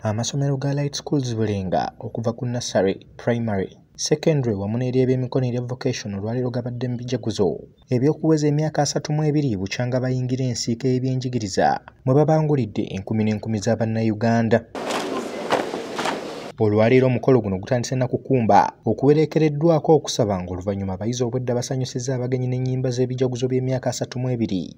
Amasomero ga Light Schools Bulenga okuva ku nursery, primary, secondary wamu n'ery'ebyemikono erya vocation olwaleero gabadde mu bijaguzo eby'okuweza emyaka asatu mu ebiri bukyanga bayingira ensiika y'ebyenjigiriza mwe babangulidde enkumi n'enkumi za bannayuganda olwaleero omukolo guno gutandise na kukumba okuwereekereddwako okusaba ng'oluvannyuma abayizi obwedda basanyusizza abagenyi n'ennyimba z'ebijaguzo by'emyaka asatu mu ebiri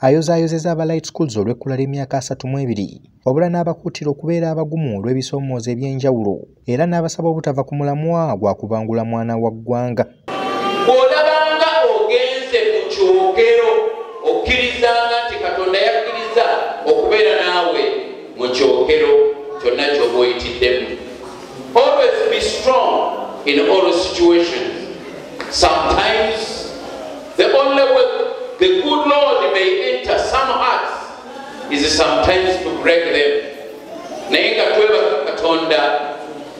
ayozaayozeza aba light schools olw'ekkula ly'emyaka asatu mu ebiri wabula n'abakuutira okubeera abagumu olw'ebisoomooza eby'enjawulo era n'abasaba obutava ku mulamwa gwa kubangula mwana wa ggwanga bw'olabanga ogenze mu kyogero okkirizanga nti katonda yakkiriza okubeera naawe mu kyokero kyonna kyoba oyitiddemu always be strong in all situations sometimes the only way the good lord may enter some hearts is sometimes to break them naye nga twebaka katonda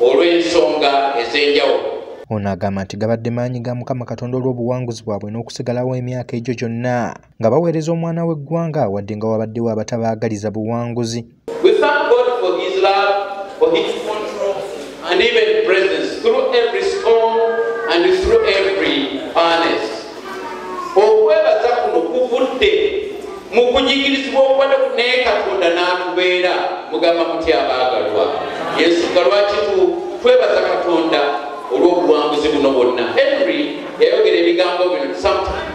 olw'ensonga ez'enjawulo ono agamba nti gabadde maanyi ga mukama katonda olw'obuwanguzi bwabwe n'okusigalawo emyaka egyo gyonna nga baweereza omwana w'eggwanga wadde nga wabaddewo abatabaagaliza buwanguzi okwebaza kuno kuvudde mu kunyigirizibwa okubadde naye katonda n'atubeera mugamba mutya abaagalwa yensonga lwaki twebaza katonda olw'obuwanguzi buno bwonna henry yayogera ebigambo bino sometimes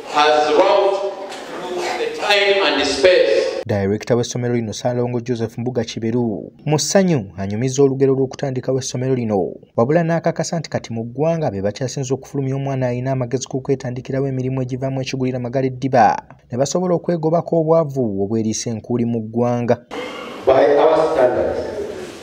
Dayirekita w'essomero lino Ssaalongo Joseph Mbuga Kiberu mu ssanyu anyumiza olugero lw'okutandikawo essomero lino wabula n'akakasa nti kati mu ggwanga be bakyasinze okufulumya omwana alina amagezi ku kwetandikirawo emirimu egivaamu ekigulira magala eddiba ne basobola okwegobako obwavu obweriisa enkuuli mu ggwanga.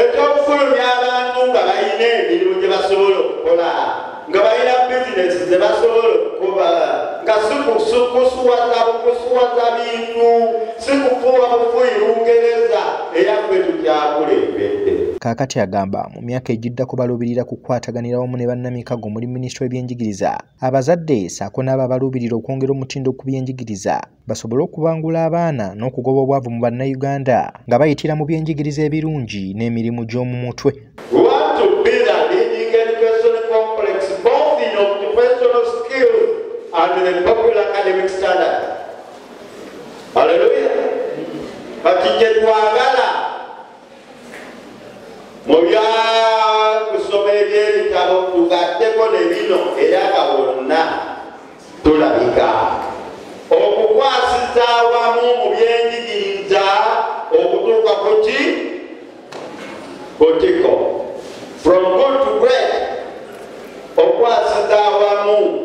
ekyokufulumya abantu nga balina emirimu gye basobola okukola nga balina bizinesi ze basobola okukola nga sikusuwaza bukusuwaza bintu sikufuwa bufuyi lungereza eyaffe tukyakulembedde kaakati agamba mu myaka egiddako baluubirira kukwataganira wamu ne bannamikago omuli minisitule w'ebyenjigiriza abazadde saako n'abo abaluubirira okwongera omutindo ku byenjigiriza basobole okubangula abaana n'okugoba obwavu mu bannayuganda nga bayitira mu byenjigiriza ebirungi n'emirimu gy'omu mutwe Hallelujah. But you get mu bya kusoma ebyebitabo tugatteko ne bino era nga bonna tulabika okukwasiza awamu mu byenjigiriza okutuuka ku ki kutiko from good to great okukwasiza awamu